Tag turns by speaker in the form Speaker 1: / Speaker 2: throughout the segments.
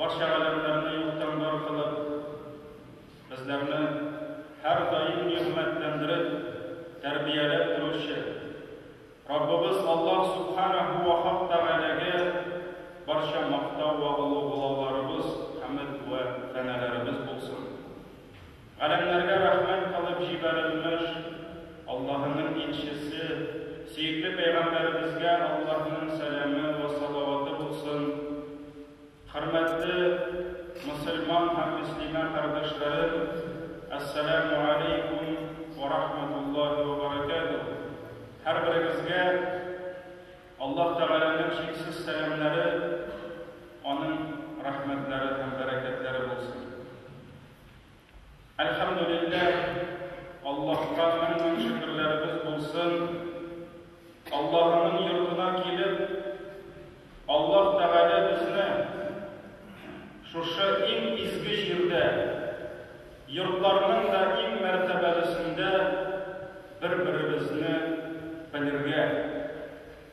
Speaker 1: Барча галәмнәрне юктан бар кылып, безләрне һәрдаим нигъмәтләндереп, тәрбияләп торучы Раббыбыз Аллаһ Субханәһу вә Хак Тәгаләгә барча мактау вә олугълауларыбыз, хәмд вә фәнәләребез булсын! Галәмнәргә рәхмәт кылып җибәрелмеш, Аллаһының илчесе, сөекле пәйгамбәребезгә Аллаһының сәламе вә салаваты булсын! Хөрмәтле мөселман һәм мөслимә кардәшләрем, Әссәләмү гәләйкүм вә рәхмәтуллаһи вә бәрәкәтүһ! Һәрберегезгә Аллаһ Тәгаләнең чиксез сәламнәре, Аның рәхмәтләре һәм бәрәкәтләре булсын! Әлхәмдүлилләһ, Аллаһка мең-мең шөкерләребез булсын, Аллаһының йортына килеп, Аллаһ Тәгалә безне шушы иң изге җирдә, йортларның да иң мәртәбәлесендә бер-беребезне белергә,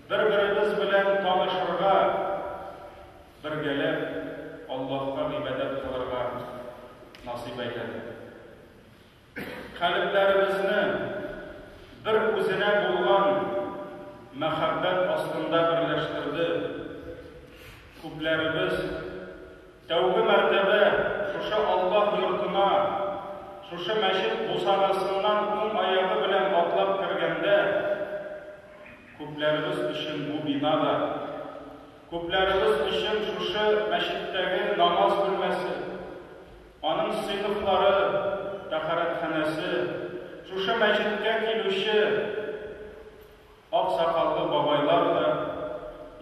Speaker 1: бер-беребез белән танышырга, Бергәләп Аллаһка гыйбадәт кылырга насыйп әйләде. Калебләребезне бер үзенә булган мәхәббәт астында берләштерде. Күпләребез тәүге мәртәбә шушы Аллаһ йортына, шушы мәчет бусагасыннан уң аягы белән атлап кергәндә, күпләребез өчен бу бина да Күпләребез өчен шушы мәчеттәге намаз бүлмәсе, аның сыйныфлары, тәһарәтханәсе, шушы мәчеткә килүче ак сакаллы бабайлар да,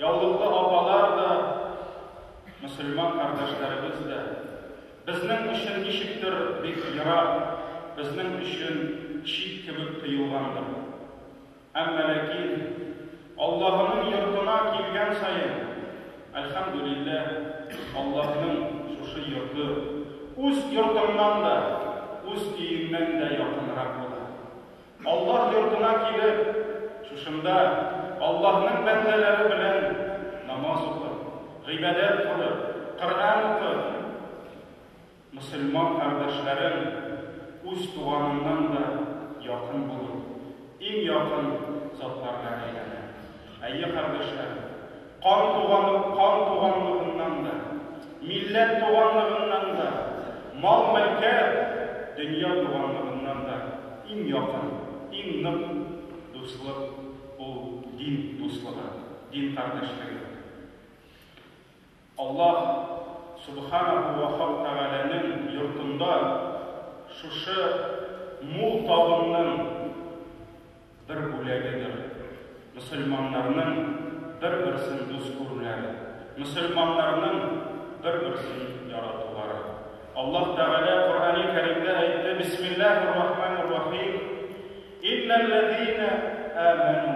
Speaker 1: яулыклы апалар да, мөселман кардәшләребез дә безнең өчен ничектер бик ерак, безнең өчен чит кебек тоелгандыр. Әмма ләкин Аллаһының йортына килгән саен, әлхәмдүлилләһ, Аллаһның шушы йорты үз йортыңнан да, үз өеңнән дә якынрак була. Аллаһ йортына килеп, шушында Аллаһның бәндәләре белән намаз укып, гыйбадәт кылып, Коръән укып, Мөселман кардәшләрең үз туганыңнан да якын булып, иң якын затларга әйләнә. Әйе, кардәшләрем, кан туганы кан туганлыгыннан да, милләт туганлыгыннан да, мал-мөлкәт, дөнья туганлыгыннан да иң якын, иң нык дуслык ул дин дуслыгы, дин кардәшлеге. Аллаһ Сүбхәнәһү вә Хак Тәгаләнең йортында шушы мул табынның бер бүләгедер мөселманнарның бер-берсен дус күрүләре, мөселманнарның бер-берсен яратулары. Аллаһ Тәгалә Коръәни Кәримдә әйтте, Бисмиллаһир-рахманир-рахим, Иннәлләзинә әмәнү.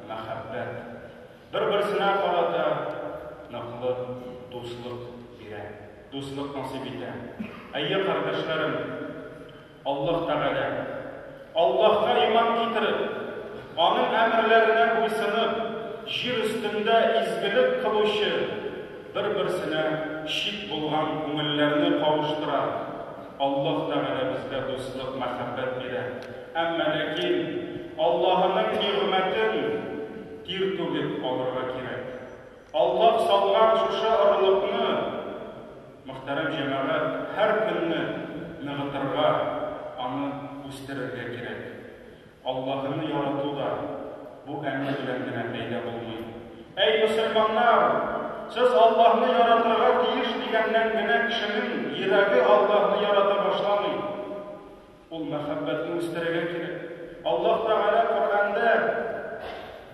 Speaker 1: мәхәббәт, бер-берсенә карата ныклы дуслык бирә, дуслык насыйп итә. Әйе, кардәшләрем, Аллаһ Тәгалә, Аллаһка иман китереп, аның әмерләренә буйсынып, җир өстендә изгелек кылучы, бер-берсенә шик булган күңелләрне кавыштыра, Аллаһ Тәгалә безгә дуслык, мәхәббәт бирә. Әмма ләкин Аллаһының нигъмәтен тир түгеп алырга кирәк. Аллаһ салган шушы орлыкны, мөхтәрәм җәмәгать, һәр көнне ныгытырга, аны үстерергә кирәк. Аллаһыны ярату да бу әмер белән генә пәйда булмый. Әй, мөселманнар! Сез Аллаһны яратырга тиеш дигәннән генә кешенең йөрәге Аллаһны ярата башламый. Ул мәхәббәтне үстерергә кирәк. Аллаһ Тәгалә Коръәндә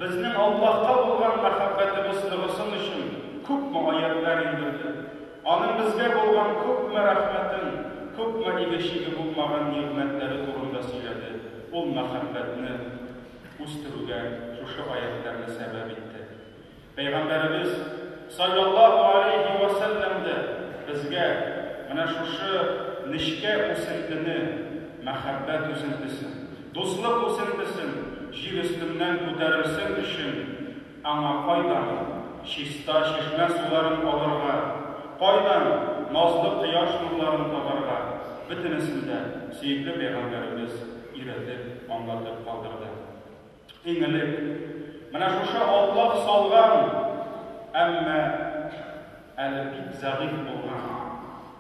Speaker 1: безнең Аллаһка булган мәхәббәтебез ныгысын өчен күпме аятьләр иңдерде. Аның безгә булган күпме рәхмәтен, күпме иге-чиге булмаган нигъмәтләре турында сөйләде. Ул мәхәббәтне үстерүгә шушы аятьләрне сәбәп итте. Пәйгамбәребез, салләллаһу галәйһи вә сәлләм, дә безгә менә шушы нечкә үсентене, мәхәббәт үзентесен, дуслык үзентесен җир өстеннән күтәрерсең өчен Аңа кайдан чиста чишмә суларын алырга, кайдан назлы кояш нурларын табарга, бөтенесен дә сөекле пәйгамбәребез өйрәтеп, аңлатып калдырды. Иң элек, менә шушы Аллаһ салган, әмма әле бик зәгыйфь булган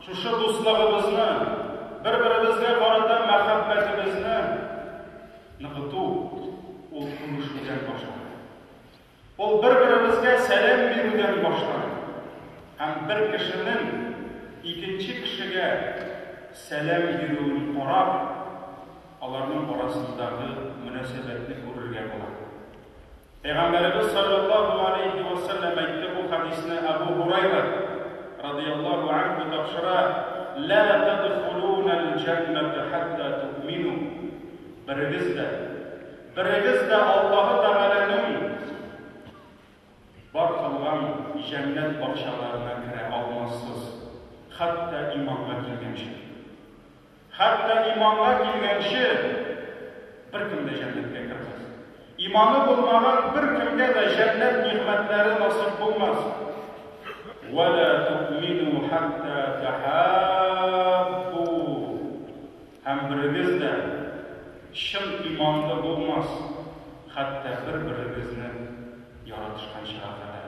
Speaker 1: шушы дуслыгыбызны, бер-беребезгә карата мәхәббәтебезне Ныгыту ул күрешүдән башлана. Ул бер-беребезгә сәлам бирүдән башлана. Һәм бер кешенең икенче кешегә сәлам бирүен карап, аларның арасындагы мөнәсәбәтне күрергә була. Пәйгамбәребез салләллаһу галәйһи вә сәлләм әйтте, бу хәдисне Әбү Һурайра, радыяллаһу анһу, тапшыра, Лә тәдхулунәл җәннәтә хәттә туъмину, Берегез дә, берегез дә Аллаһы Тәгаләнең бар кылган җәннәт бакчаларына керә алмассыз, хәтта иманга килгәнче. Хәтта иманга килгәнче беркем дә җәннәткә кермәс. Иманы булмаган беркемгә дә җәннәт нигъмәтләре насыйп булмас. Ва ла тумину хатта тахаббу. Һәм берегез дә чын иманлы булмас, хәтта бер-берегезне яратышканчыга кадәр.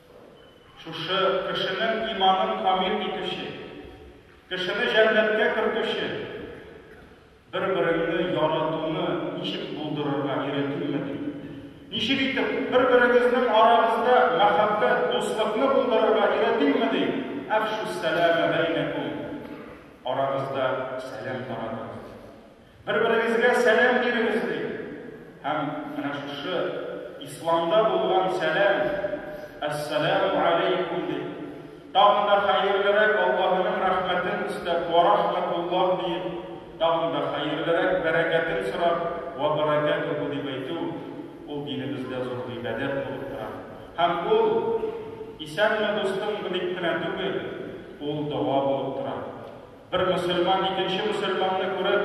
Speaker 1: Шушы кешенең иманын камил итүче, кешене җәннәткә кертүче бер-береңне яратуны ничек булдырырга өйрәтимме ди? Ничек итеп бер-берегезнең арагызда мәхәббәт, дуслыкны булдырырга өйрәтимме ди? Әфшүс сәләмә бәйнәкум. Арагызда сәлам таратыгыз. Бер-берегезгә сәлам бирегез, ди. Һәм менә шушы Исламда булган сәлам, Әссәләмү алейкум, ди. Тагын да хәерлерәк Аллаһының рәхмәтен истәп, Уә рахмәтуллаһ, диеп, тагын да хәерлерәк бәрәкәтен сорап, Уә бәрәкәтүһү, дип әйтү, ул динебездә зур гыйбадәт булып тора. Һәм ул, Исәнме, дустым, дип кенә түгел, ул дога булып тора. Бер мөселман икенче мөселманны күреп,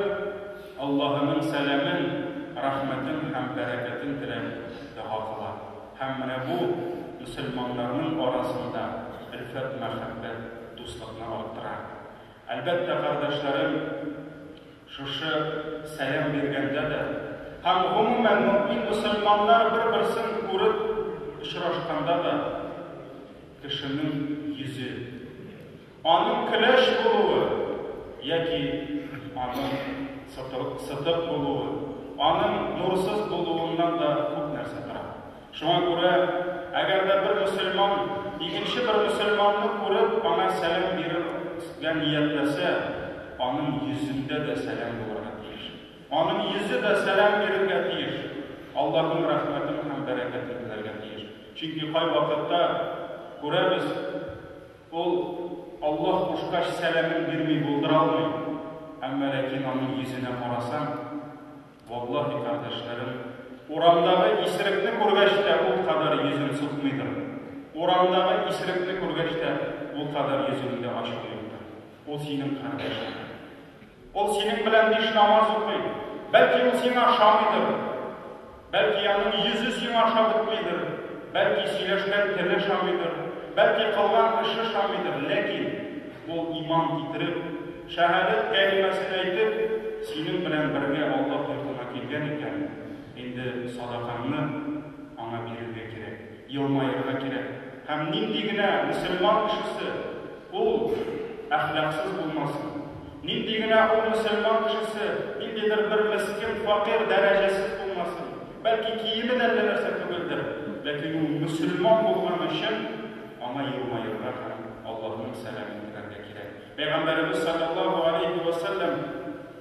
Speaker 1: Аллаһының сәламен, рәхмәтен һәм бәрәкәтен теләп дога кыла. Һәм менә бу мөселманнарның арасында өлфәт-мәхәббәт, дуслыкны арттыра. Әлбәттә, кардәшләрем, шушы сәлам биргәндә дә һәм, гомумән, мөэмин мөселманнар бер-берсен күреп очрашканда да кешенең йөзе, Аның көләч булуы яки аның сытык булуы, аның нурсыз булуыннан да күп нәрсә тора. Шуңа күрә, әгәр дә бер мөселман икенче бер мөселманны күреп, аңа сәлам бирергә ниятләсә, аның йөзендә дә сәлам булырга тиеш. Аның йөзе дә сәлам бирергә тиеш, Аллаһның рәхмәтен һәм бәрәкәтен теләргә тиеш. Чөнки кайвакытта күрәбез, Ул, Аллаһ кушкач, сәламен бирми булдыралмый, әмма ләкин аның йөзенә карасаң, валлаһи, кардәшләрем, урамдагы исерекне күргәч тә ул кадәр йөзен сукмыйдыр, урамдагы исерекне күргәч тә ул кадәр йөзеңдә ачу юктыр, ул синең кардәшеңдер. Ул синең белән биш намаз укый. Бәлки ул сиңа ошамыйдыр. Бәлки аның йөзе сиңа ошап бетмидер. Бәлки сөйләшкән теле ошамыйдыр. Бәлки кылган эше ошамыйдыр. Ләкин ул иман китереп, шәһадәт кәлимәсен әйтеп, синең белән бергә Аллаһ йортына килгән икән, инде садакаңны аңа бирергә кирәк. Елмаерга кирәк. Һәм нинди генә мөселман кешесе ул әхлаксыз булмасын? Нинди генә ул мөселман кешесе ниндидер бер мескен, факир, дәрәҗәсез булмасын? Бәлки киеме дә әллә нәрсә түгелдер, ләкин ул мөселман булган өчен аңа елмаерга һәм Аллаһның сәламен теләргә кирәк. Пәйгамбәребез салләллаһу галәйһи вә сәлләм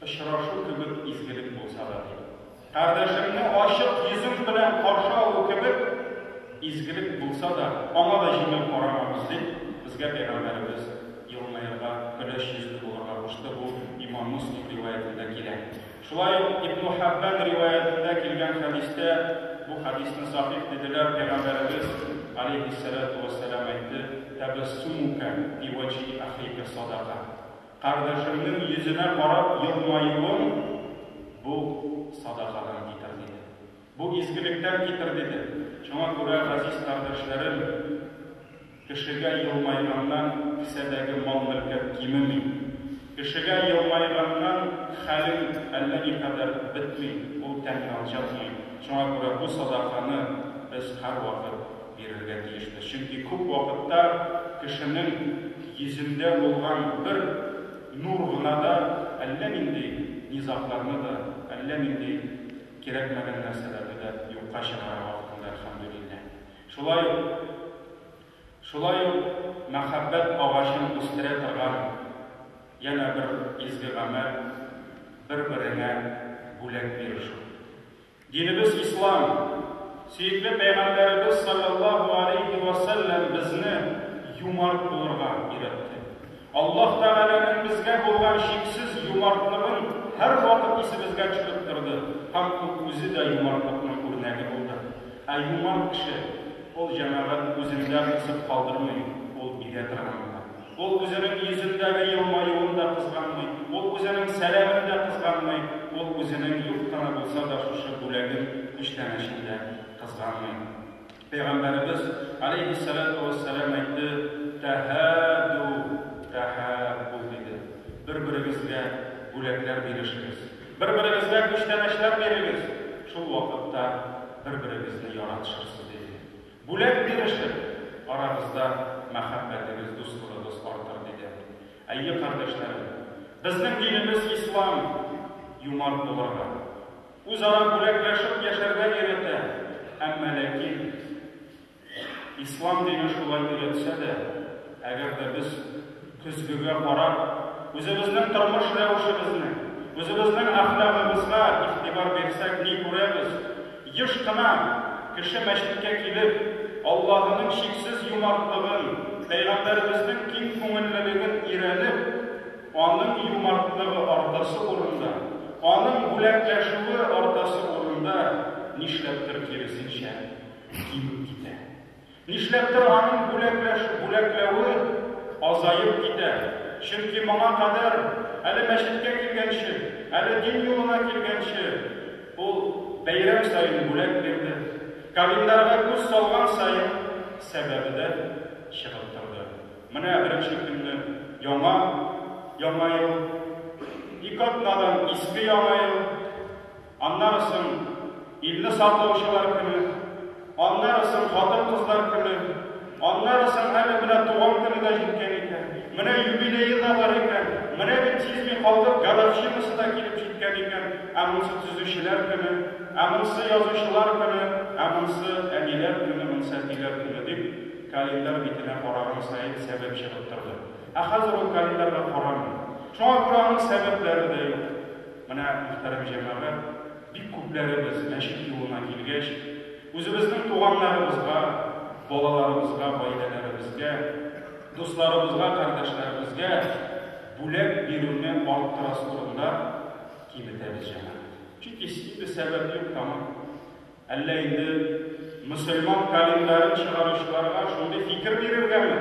Speaker 1: Очрашу кебек изгелек булса да, ди. Кардәшеңне ачык йөзең белән каршы алу кебек изгелек булса да, аңа да җиңел карамагыз, дип, безгә Пәйгамбәребез елмаерга, көләч йөзле булырга кушты, бу Имам Муслим риваятендә килә. Шулай ук Ибну Хәббән риваятендә килгән хәдистә, бу хәдисне сахих диделәр, Пәйгамбәребез, галәйһиссәләтү вәссәлам, әйтте, Тәбәссүмүкә фи вәҗһи ахика садака. Кардәшемнең йөзенә карап елмаюың бу садакадан китер, диде. Бу изгелектән китер, диде. Шуңа күрә, газиз кардәшләрем, кешегә елмайганнан кесәдәге мал-мөлкәт кимеми. Кешегә елмайганнан хәлең әллә никадәр бетми, ул тән янча, диеп. Шуңа күрә бу садаканы без һәрвакыт Бирергә тиешбез, чөнки күп вакытта кешенең йөзендә булган бер нур гына да әллә нинди низагларны да, әллә нинди кирәкмәгән нәрсәләрне дә юкка чыгара вакытында, әлхәмдүлилләһ. Шулай ук, шулай ук мәхәббәт агачын үстерә торган янә бер изге гамәл, бер-береңә бүләк бирү шул. Динебез ислам. Сөекле Пәйгамбәребез салләллаһу аләйһи вә сәлләм безне юмарт булырга өйрәтте. Аллаһ Тәгаләнең безгә булган чиксез юмартлыгын һәрвакыт исебезгә төшереп торды һәм Ул үзе дә юмартлыкның үрнәге булды. Ә юмарт кеше, ул җәмәгать үзендә кысып калдырмый, ул бирә торган була. Ул үзенең йөзендәге елмаюын да кызганмый, ул үзенең сәламен дә кызганмый, ул үзенең юк кына булса да шушы бүләген, күчтәнәчен дә кызганмый. Пәйгамбәребез, галәйһиссәлатү вәссәлам, әйтте, Тәһәдү, тәһәббү, диде. Бер-берегезгә бүләкләр бирешегез. Бер-берегезгә күчтәнәчләр бирегез. Шул вакытта бер-берегезне яратышырсыз, диде. Бүләк бирерсең, арагызда мәхәббәтегез, дуслыгыгыз артыр, диде. Әйе, кардәшләрем, безнең динебез ислам юмарт булырга, үзара бүләкләшеп яшәргә өйрәтә. Әмма ләкин ислам дине шулай өйрәтсә дә, әгәр дә без Көзгегә карап, үзебезнең тормыш рәвешебезне, үзебезнең әхлагыбызга игътибар бирсәк, ни күрәбез? Еш кына кеше мәчеткә килеп, Аллаһының чиксез юмартлыгын, Пәйгамбәребезнең киң күңеллелеген өйрәнеп, Аның юмартлыгы артасы урында, Аның бүләкләшүе артасы урында, нишләптер киресенчә, кимеп китә. Нишләптер аның бүләкләшү-бүләкләве азаеп китә, чөнки моңа кадәр, әле мәчеткә килгәнче, әле дин юлына килгәнче, ул бәйрәм саен бүләк бирде, календарьга күз салган саен сәбәбе дә чыгып торды. Менә беренче көнне яңа Яңа ел, ике атнадан Иске Яңа ел. Аннары соң илне саклаучылар көне, аннары соң хатын-кызлар көне, аннары соң әле менә туган көне дә җиткән икән, менә юбилее да бар икән, менә бит сизми калдык, годовщинасы да килеп җиткән икән, ә монысы төзүчеләр көне, ә монысы язучылар көне, ә монысы әниләр көне, монысы әтиләр көне, дип, календарь битенә караган саен сәбәп чыгып торды. Ә хәзер ул календарьга карамый. Шуңа күрә аның сәбәпләре дә юк. Менә, мөхтәрәм җәмәгать, бик күпләребез мәчет юлына килгәч, үзебезнең туганнарыбызга, балаларыбызга, гаиләләребезгә, дусларыбызга, кардәшләребезгә бүләк бирүне арттырасы турында кибетәбез, җәмәгать. Чөнки синдэ сәбәп юк, тамыр. Әллә инде мөселман календарен чыгаручыларга шундый фикер бирергәме?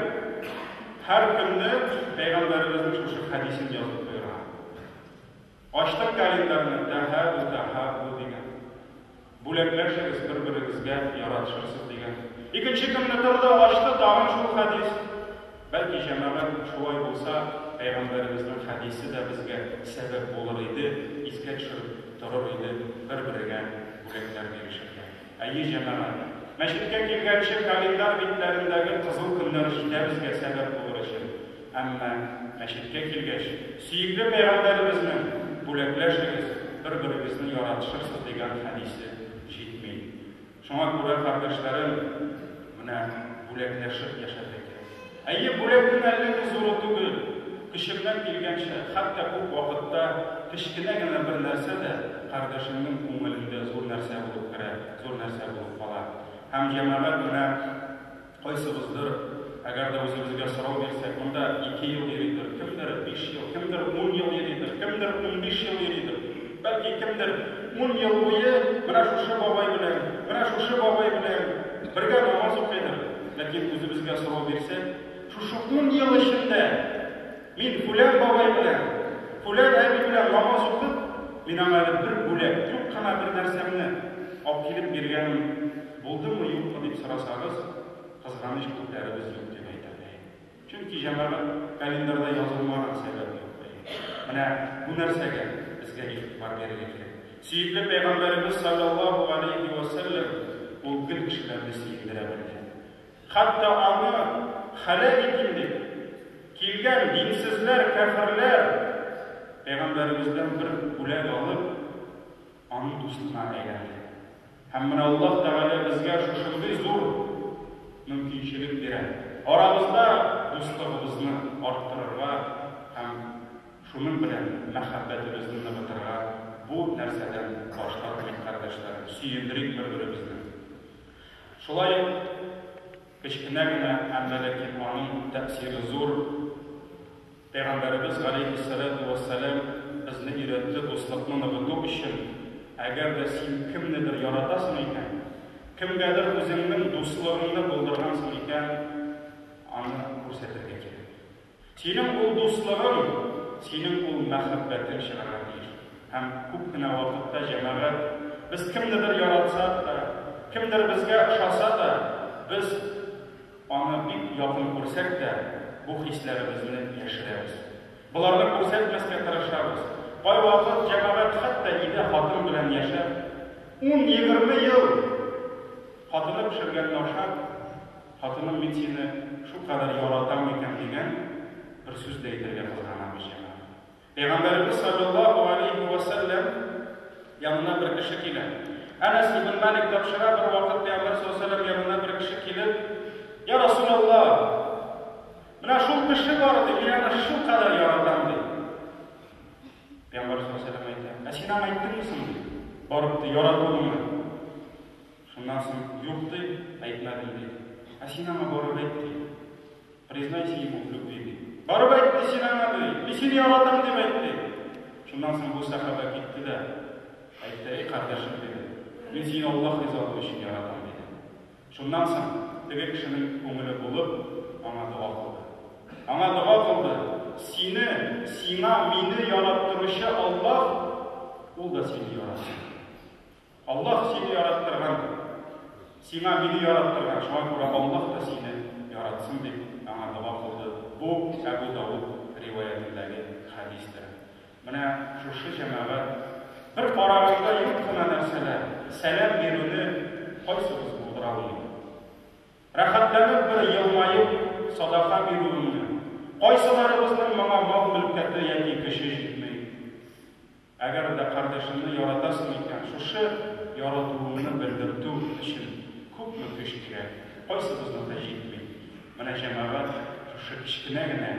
Speaker 1: Һәр көнне Пәйгамбәребезнең шушы хәдисен язып куерган. Ачтык календарьны, Тәһабү, Тәһабү дигән. Бүләкләшегез бер-берегезгә, яратышырсыз дигән. Икенче көнне торды, ачты, тагын шул хәдис. Бәлки, җәмәгать, шулай булса, пәйгамбәребезнең хәдисе дә безгә сәбәп булыр иде, искә төшереп торыр иде, бер-берегә бүләкләр бирешергә. Әйе, җәмәгать. Мәчеткә килгәнче календарь битләрендәге кызыл көннәр җитә безгә сәбәп булыр өчен. Әмма, мәчеткә килгәч, сөекле Пәйгамбәребезнең, Бүләкләшегез, бер-берегезне яратышырсыз, дигән хәдисе җитми. Шуңа күрә, кардәшләрем, менә бүләкләшеп яшәргә кирәк. Әйе, бүләкнең әллә ни зуры түгел, көчеңнән килгәнчә, хәтта күп вакытта кечкенә генә бер нәрсә дә кардәшеңнең күңелендә зур нәрсә булып керә, зур нәрсә булып кала. Һәм җәмәгать менә кайсыбыздыр, әгәр дә үзебезгә сорау бирсәк, монда ике ел йөридер, кемдер биш ел, кемдер ун ел йөридер, кемдер унбиш ел йөридер. Бәлки кемдер ун ел буе менә шушы бабай белән, менә шушы бабай белән бергә намаз укыйдыр. Ләкин үзебезгә сорау бирсәк, шушы ун ел эчендә мин фүлән бабай белән, фүлән әби белән намаз укып, мин аңа әле бер бүләк, юк кына бер нәрсәмне алып килеп биргәнем булдымы, юкмы дип сорасагыз, кызганыч, күпләребез юк дип әйтә. Чөнки җәмәгать календарьда язылмаган сәбәп юк та инде. Менә бу нәрсәгә безгә игътибар бирергә кирәк. Сөекле пәйгамбәребез салләллаһу галәйһи вә сәлләм ул гел кешеләрне сөендерә белгән. Хәтта аны һәлак итим дип килгән динсезләр, кяферләр пәйгамбәребездән бер бүләк алып, Аның дустына әйләнде. Һәм менә Аллаһ Тәгалә безгә шушындый зур мөмкинчелек бирә, арабызда дуслыгыбызны арттырырга һәм шуның белән мәхәббәтебезне ныгытырга Бу нәрсәдән баш тартмыйк, кардәшләрем, сөендерик бер-беребезне. Шулай ук кечкенә генә, әмма ләкин аның тәэсире зур. Пәйгамбәребез галәйһиссәләтү вәссәлам безне өйрәтте, дуслыкны ныгыту өчен, әгәр дә син кемнедер яратасың икән, кемгәдер үзеңнең дуслыгыңны булдыргансың икән, аны күрсәтергә кирәк. Синең ул дуслыгың, синең ул мәхәббәтең чыгарга тиеш. Һәм күп кенә вакытта җәмәгать, без кемнедер яратсак та, кемдер безгә ошаса да, без Аны бик якын күрсәк тә, бу хисләребезне яшерәбез. Боларны күрсәтмәскә тырышабыз. Кайвакыт җәмәгать хәтта өйдә хатын белән яшәп, ун-егерме ел хатыны пешергәнне ашап, хатыным, мин сине шулкадәр яратам микән дигән бер сүз дә әйтергә кызганабыз җәмәгать. Пәйгамбәребез салләллаһу галәйһи вә сәлләм янына бер кеше килә. Әнәс ибн Малик тапшыра, бервакыт пәйгамбәр салләллаһу галәйһи вә сәлләм янына бер кеше килеп, Я Расуләллаһ! Менә шул кеше бар иде, мин аны шулкадәр яратам, ди. Пәйгамбәр салләллаһу галәйһи вә сәлләм әйтә, Ә син аңа әйттеңме соң, ди, барып, ди, яратуыңны? Шуннан соң, Юк, ди, әйтмәдем, ди. Ә син аңа барып әйт, ди. Признайся ему в любви, ди. Барып әйт, ди, син аңа, ди, мин сине яратам дип әйт, ди. Шуннан соң бу сәхабә китте дә әйтте, Әй кардәшем, диде, мин сине Аллаһ ризалыгы өчен яратам, диде. Шуннан соң теге кешенең күңеле булып, аңа дога кылды. Аңа дога кылды, Сине, сиңа, мине яраттыручы Аллаһ, ул да сине яратсын. Аллаһ сине яраттырган, сиңа мине яраттырган, шуңа күрә Аллаһ та сине яратсын дип аңа дога кылды. Бу Әбу Давуд риваятендәге хәдистер. Менә шушы җәмәгать бер караганда юк кына нәрсәләр, сәлам бирүне кайсыбыз булдыра алмый? Рәхәтләнеп бер елмаеп садака бирүемне, кайсыларыбызның моңа мал-мөлкәте яки көче җитми? Әгәр дә кардәшеңне яратасың икән, шушы яратуыңны белдертү өчен күпме көч кирәк, кайсыбызныкы җитми? Менә җәмәгать шушы кечкенә генә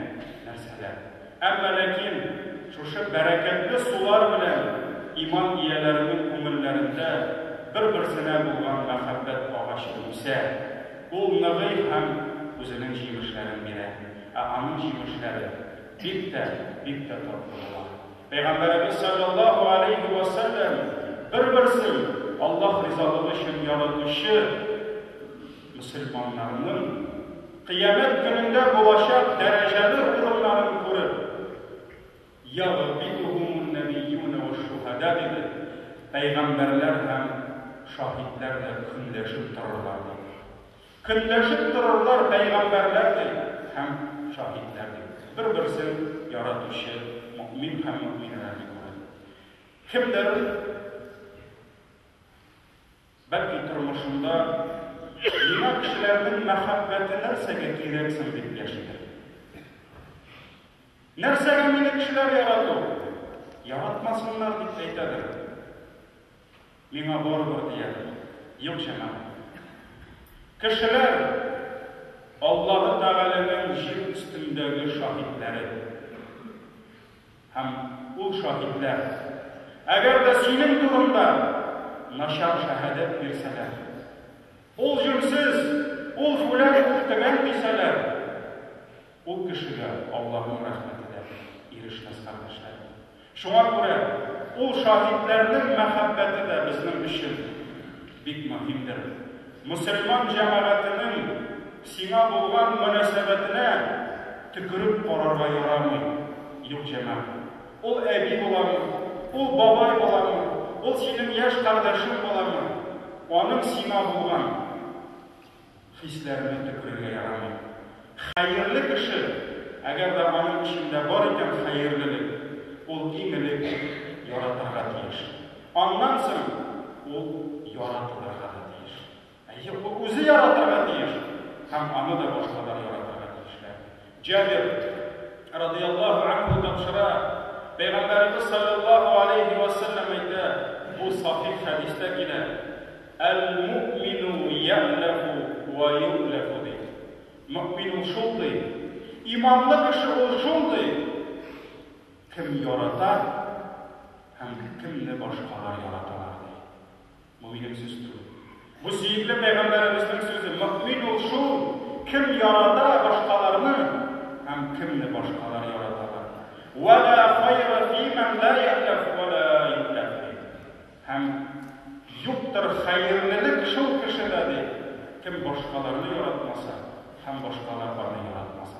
Speaker 1: нәрсәләр. Әмма ләкин шушы бәрәкәтле сулар белән иман ияләренең күңелләрендә бер-берсенә булган мәхәббәт агачы үсә, ул ныгый һәм үзенең җимешләрен бирә. Ә аның җимешләре бик тә, бик тә татлы була. Пәйгамбәребез салләллаһу галәйһи вә сәлләм бер-берсен Аллаһ ризалыгы өчен яратучы мөселманнарның Кыямәт көнендә булачак дәрәҗәле урыннарын күреп, Ягъбидухумун-нәбийюнә уш-шухәдә, диде, пәйгамбәрләр һәм шаһитләр дә көнләшеп торырлар, диде. Көнләшеп торырлар пәйгамбәрләр ди һәм шаһитләр ди. Бер-берсен яратучы мөэмин һәм мөэминәләрне күреп, кемдер, бәлки, тормышында Миңа кешеләрнең мәхәббәте нәрсәгә кирәк соң дип яшидер. Нәрсәгә мине кешеләр ярату? Яратмасыннар дип әйтәдер. Миңа барыбер дияр. Юк, җәмәгать. Кешеләр Аллаһы Тәгаләнең җир өстендәге шаһитләре. Һәм ул шаһитләр, әгәр дә синең турында начар шәһадәт бирсәләр, ул җүнсез, ул җүләр, ул тегән дисәләр, Ул кешегә Аллаһның рәхмәте дә ирешмәс, кардәшләрем. Шуңа күрә ул шаһитләрнең мәхәббәте дә безнең өчен бик мөһимдер. Мөселман җәмәгатенең сиңа булган мөнәсәбәтенә төкереп карарга ярамый. Юк, җәмәгать. Ул әби буламы, ул бабай буламы, ул синең яшь кардәшең буламы, аның сиңа булган. Хисләрне төкерергә ярамый. Хәерле кеше, әгәр дә аның эчендә бар икән хәерлелек, ул иң элек яратырга тиеш. Аннан соң ул яратылырга да тиеш. Әйе, ул үзе яратырга тиеш һәм аны да башкалар яратырга тиешләр. Җабир, радыяллаһу анһу, тапшыра, Пәйгамбәребез, салләллаһу аләйһи вә сәлләм, әйтә, бу сахих хәдистә килә, Әл-муъмину йә'ләфу вә йу'ләфу, ди. Мөэмин ул шундый, иманлы кеше ул шундый, кем ярата һәм кемне башкалар яраталар, ди. Бу минем сүз түгел. Бу сөекле пәйгамбәребезнең сүзе. Мөэмин ул шул, кем ярата башкаларны һәм кемне башкалар яраталар. Вәлә хайра фимән лә яхләф вәлә юхләфи. Һәм юктыр хәерлелек шул кешедә ди, кем башкаларны яратмаса һәм башкалар аны яратмаса.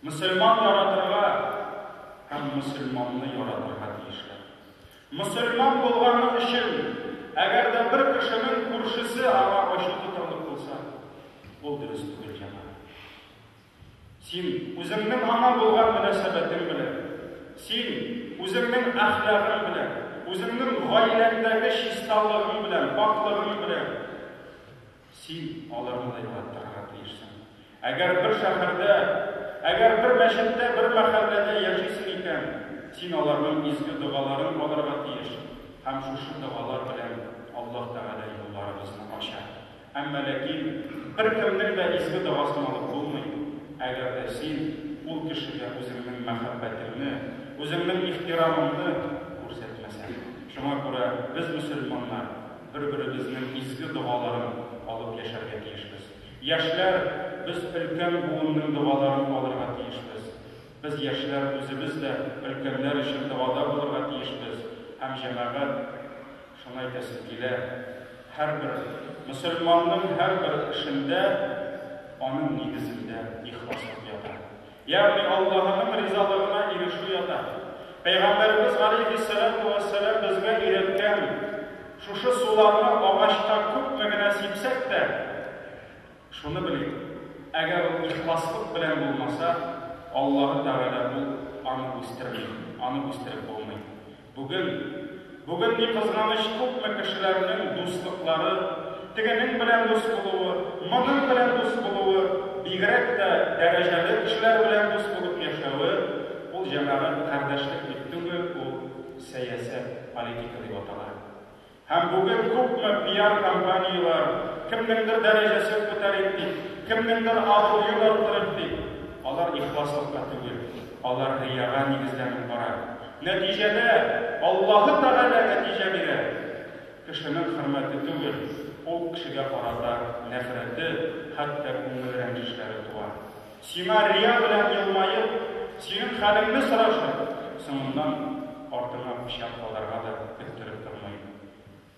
Speaker 1: Мөселман яратырга һәм мөселманны яратырга тиешләр. Мөселман булганы өчен, әгәр дә бер кешенең күршесе аңа ачу тотарлык булса, ул дөрес түгел, җәмәгать. Син үзеңнең аңа булган мөнәсәбәтең белән, син үзеңнең әхлагың белән, үзеңнең гаиләңдәге чисталыгың белән, пакьлыгың белән, Син аларны да югалтырга тиешсең. Әгәр бер шәһәрдә, әгәр бер мәчеттә, бер мәхәлләдә яшисең икән, син аларның изге догаларын алырга тиеш, һәм шушы догалар белән Аллаһ Тәгалә юлларыбызны ача. Әмма ләкин беркемнең дә изге догасын алып булмый, әгәр дә син ул кешегә үзеңнең мәхәббәтеңне, үзеңнең ихтирамыңны күрсәтмәсәң. Шуңа күрә без, мөселманнар, Бер-беребезнең изге догаларын алып яшәргә тиешбез. Яшьләр, без өлкән буынның догаларын алырга тиешбез. Без, яшьләр, үзебез дә өлкәннәр өчен догада булырга тиешбез һәм, җәмәгать, шуны әйтәсем килә, һәрбер мөселманның һәрбер эшендә, аның нигезендә ихласлык ята. Ягъни Аллаһының ризалыгына ирешү ята. Пәйгамбәребез галәйһиссәләтү вәссәлам безгә өйрәткән шушы суларны агачка күпме генә сипсәк тә, шуны белик, әгәр ул ихласлык белән булмаса, Аллаһы Тәгалә ул аны үстерми, аны үстереп булмый. Бүген, бүген, ни кызганыч, күпме кешеләрнең дуслыклары, тегенең белән дус булуы, моның белән дус булуы, бигрәк тә дәрәҗәле кешеләр белән дус булып яшәве, ул, җәмәгать, кардәшлек бит түгел, ул сәясәт, политика дип атала. Һәм бүген күпме пиар-кампанияләр, кемнеңдер дәрәҗәсен күтәрик дип, кемнеңдер абруен арттырыйк дип, алар ихласлыкка түгел, алар рияга нигезләнеп бара. Нәтиҗәдә, Аллаһы Тәгалә нәтиҗә бирә, кешенең хөрмәте түгел, ул кешегә карата нәфрәте, хәтта күңел рәнҗешләре туа. Сиңа рия белән елмаеп, синең хәлеңне сорашып, соңыннан артыңа пычак кадарга да көттереп тормыйм.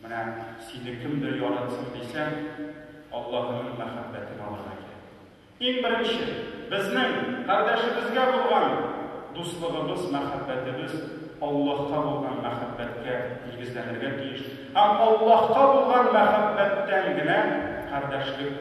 Speaker 1: Менә сине кемдер яратсын дисәң, Аллаһының мәхәббәтен алырга кирәк. Иң беренче, безнең кардәшебезгә булган дуслыгыбыз, мәхәббәтебез Аллаһка булган мәхәббәткә нигезләнергә тиеш һәм Аллаһка булган мәхәббәттән генә кардәшлек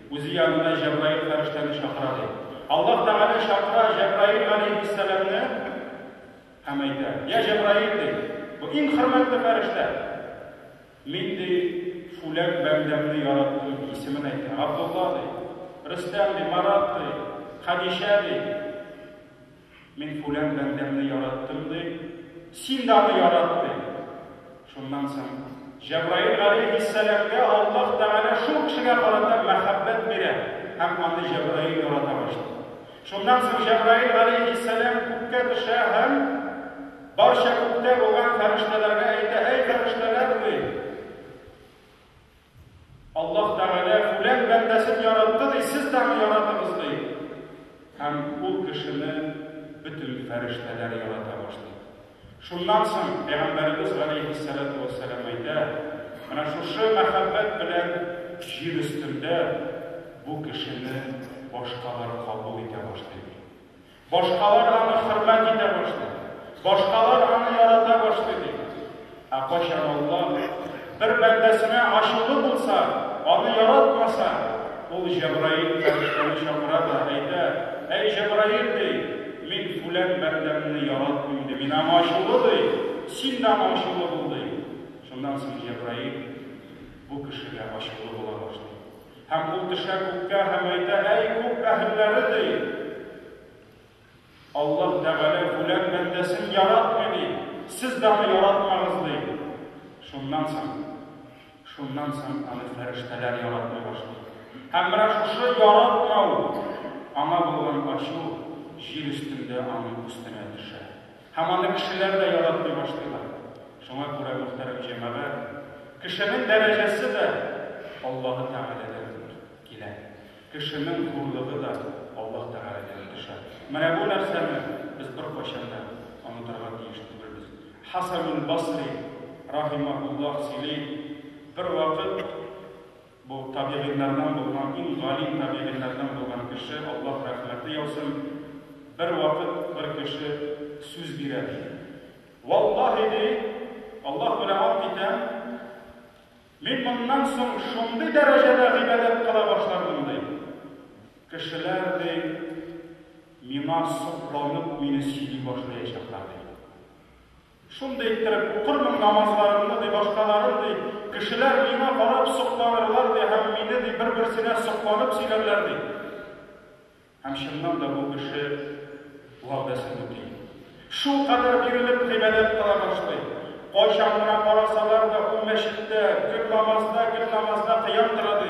Speaker 1: Үзе янына Җәбраил фәрештәне чакыра, ди. Аллаһ Тәгалә чакыра Җәбраил галәйһиссәламне һәм әйтә, Йә Җәбраил, ди, бу иң хөрмәтле фәрештә. Мин, ди, фүлән бәндәмне яраттым, ди, исемен әйтә, Габдулла, ди, Рөстәм, ди, Марат, ди, Хәдичә, ди. Мин күләм бәндәмне яраттым, ди, син дә аны ярат, ди. Шуннан соң Җәбраил галәйһиссәламгә Аллаһ Тәгалә шул кешегә карата мәхәббәт бирә һәм аны Җәбраил ярата башлый. Шуннан соң Җәбраил галәйһиссәлам күккә төшә һәм барча күктә булган фәрештәләргә әйтә, Әй, фәрештәләр, ди! Аллаһ Тәгалә үлән бәндәсен яратты, ди, сез тагы яратыгыз, ди. Һәм ул кешене бөтен фәрештәләр ярата башлый. Шуннан соң Пәйгамбәребез галәйһиссәләтү вәссәлам әйтә, Менә шушы мәхәббәт белән җир өстендә бу кешене башкалар кабул итә башлый, ди. Башкалар аны хөрмәт итә башлый, башкалар аны ярата башлый, ди. Ә кайчан Аллаһ бер бәндәсенә ачулы булса, аны яратмаса, ул Җәбраил фәрештәне чакыра да әйтә, Әй Җәбраил, ди, мин фүлән бәндәмне яратмыйм, ди, мин аңа ачулы, ди, син дә аңа ачулы бул, ди. Шуннан соң Җәбраил бу кешегә ачулы була башлый. Һәм ул төшә күккә һәм әйтә, Әй, күк әһелләре! ди. Аллаһ Тәгалә фүлән бәндәсен яратмый, ди. Сез дә аны яратмагыз, ди. Шуннан соң, шуннан соң аны фәрештәләр яратмый башлый. Һәм менә шушы яратмау, аңа булган ачу җир өстендә аның өстенә төшә. Һәм аны кешеләр дә яратмый башлыйлар. Шуңа күрә, мөхтәрәм җәмәгать, кешенең дәрәҗәсе дә Аллаһы Тәгаләдән килә. Кешенең зурлыгы да Аллаһ Тәгаләдән төшә. Менә бу нәрсәне без беркайчан да онытырга тиеш түгелбез. Хәсәнул Басри, рахимаһуллаһ, сөйли, Бервакыт Бу табигыйләрдән булган, иң галим табигыйләрдән булган кеше, Аллаһ рәхмәте яусын, бер вакыт бер кеше сүз бирә, ди. Валлаһи, ди, Аллаһ белән ант итәм, мин моннан соң шундый дәрәҗәдә гыйбадәт кыла башлармын, ди. Кешеләр, ди, миңа сокланып, мине сөйли башлаячаклар, ди. Шундый иттереп укырмын намазларымны, ди, башкаларын, ди, кешеләр миңа карап сокланырлар, ди, һәм мине, ди, бер-берсенә сокланып сөйләрләр, ди. Һәм чыннан да бу кеше вәгъдәсен үти. Шулкадәр бирелеп гыйбадәт кыла башлый. Кайчан гына карасалар да, ул мәчеттә, гел намазда, гел намазда кыям тора, ди.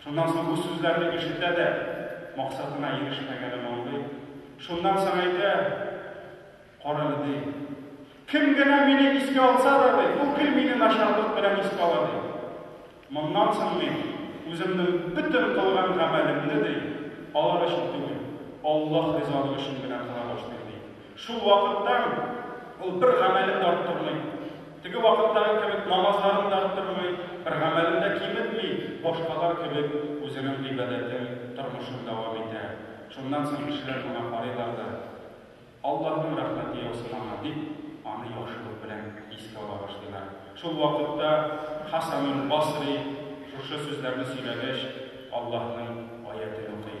Speaker 1: Шуннан соң бу сүзләрне ишетә дә, максатына ирешмәгәнен аңлый. Шуннан соң әйтә, Карале, ди, кем генә мине искә алса да, ди, ул гел мине начарлык белән искә ала, ди. Моннан соң мин үземнең бөтен кылган гамәлемне, ди, алар өчен түгел, Аллаһ ризалыгы өчен генә кыла башлыйм, ди. Шул вакыттан ул бер гамәлен дә оттырмый. Теге вакыттагы кебек намазларын да оттырмый, бер гамәлен дә киметми, башкалар кебек үзенең гыйбадәтен, тормышын дәвам итә. Шуннан соң кешеләр моңа карыйлар да, Аллаһның рәхмәте яусын аңа, дип, аны яхшылык белән искә ала башлыйлар. Шул вакытта Хәсәнул-Басри шушы сүзләрне сөйләгәч, Аллаһның аятен укый.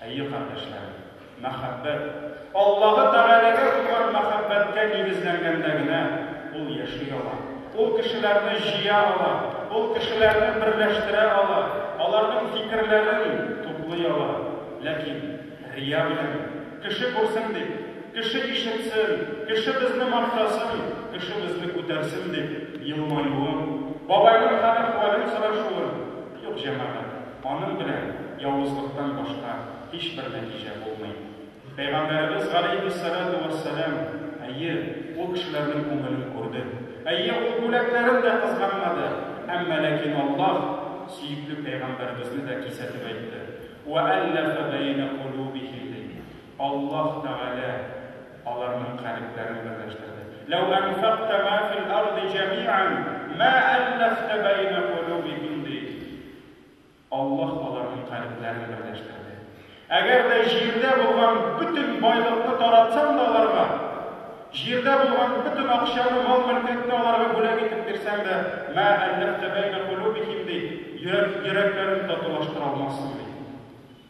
Speaker 1: Әйе, кардәшләр, мәхәббәт, Аллаһы Тәгаләгә булган мәхәббәткә нигезләнгәндә генә ул яши ала, ул кешеләрне җыя ала, ул кешеләрне берләштерә ала, аларның фикерләрен туплый ала. Ләкин рия белән, кеше күрсен дип, кеше ишетсен, кеше безне мактасын, кеше безне күтәрсен дип елмаюын, бабайның хәл-әхвәлен сорашуын, Юк, җәмәгать, аның белән явызлыктан башка һичбер нәтиҗә булмый. Пәйгамбәребез галәйһиссәлатү вәссәлам, әйе, ул кешеләрнең күңелен күрде, әйе, ул бүләкләрен дә кызганмады, әмма ләкин Аллаһ сөекле пәйгамбәребезне дә кисәтеп әйтте, Вәәлләфә бәйнә кулубихим, дип. Аллаһ Тәгалә аларның калебләрен берләштерде. Ләү әнфәкта мә фил арди җәмиән мә әлләфтә бәйнә кулубихим, ди. Аллаһ аларның калебләрен берләштерде. Әгәр дә җирдә булган бөтен байлыкны таратсаң да аларга, җирдә булган бөтен акчаны, мал-мөлкәтне аларга бүләк итеп бирсәң дә, мә әлләфтә бәйнә кулубихим, ди, йөрәк, йөрәкләрен татулаштыра алмассың, ди.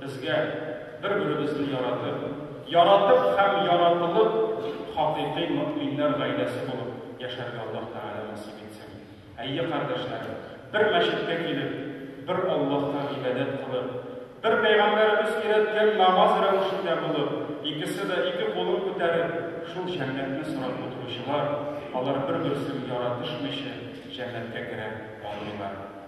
Speaker 1: Безгә, бер-беребезне яратып, яратып һәм яратылып, хакыйкый мөэминнәр гаиләсе булып яшәргә Аллаһ Тәгалә насыйп итсен. Әйе, кардәшләрем, бер мәчеткә килеп, бер Аллаһка гыйбадәт кылып, бер Пәйгамбәребез өйрәткән намаз рәвешендә булып, икесе дә ике кулын күтәреп, шул җәннәтне сорап утыручылар, алар бер-берсен яратышмыйча җәннәткә керә алмыйлар.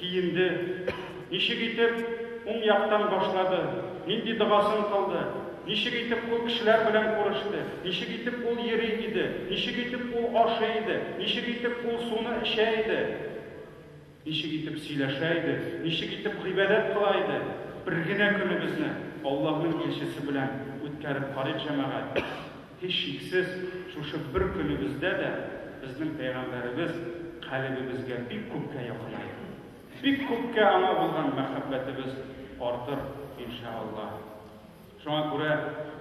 Speaker 1: киенде, ничек итеп уң яктан башлады, нинди догасын кылды, ничек итеп ул кешеләр белән күреште, ничек итеп ул йөри иде, ничек итеп ул ашый иде, ничек итеп ул суны эчә иде. Ничек итеп сөйләшә иде, ничек итеп гыйбадәт кыла иде? Бер генә көнебезне Аллаһның илчесе белән үткәреп карыйк, җәмәгать. Һичшиксез, шушы бер көнебездә дә безнең пәйгамбәребез калебебезгә бик күпкә якынайыр. Бик күпкә аңа булган мәхәббәтебез артыр, иншәАллаһ. Шуңа күрә,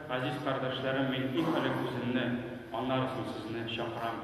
Speaker 1: газиз кардәшләрем, мин иң элек үземне, аннары соң сезне чакырам.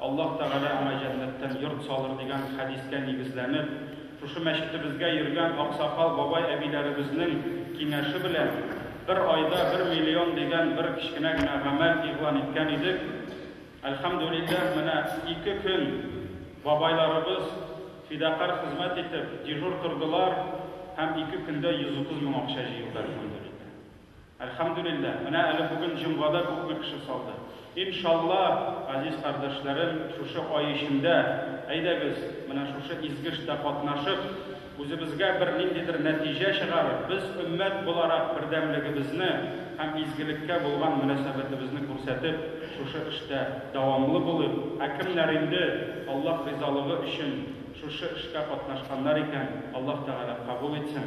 Speaker 1: Аллаһ Тәгалә аңа җәннәттән йорт салыр, дигән хәдискә нигезләнеп, шушы мәчетебезгә йөргән аксакал бабай-әбиләребезнең киңәше белән, бер айда бер миллион дигән бер кечкенә генә гамәл игълан иткән идек. Әлхәмдүлилләһ, менә ике көн бабайларыбыз фидакарь хезмәт итеп, дежур тордылар һәм ике көндә 130 мең акча җыелды, әлхәмдүлилләһ. Әлхәмдүлилләһ, менә әле бүген җомгада күпме кеше салды. Иншалла, газиз кардәшләрем, шушы ай эчендә, әйдәгез, менә шушы изге эштә катнашып, үзебезгә бер ниндидер нәтиҗә чыгарып, без өммәт буларак бердәмлегебезне һәм изгелеккә булган мөнәсәбәтебезне күрсәтеп, шушы эштә дәвамлы булыйк. Ә кемнәр инде Аллаһ ризалыгы өчен шушы эшкә катнашканнар икән, Аллаһ Тәгалә кабул итсен.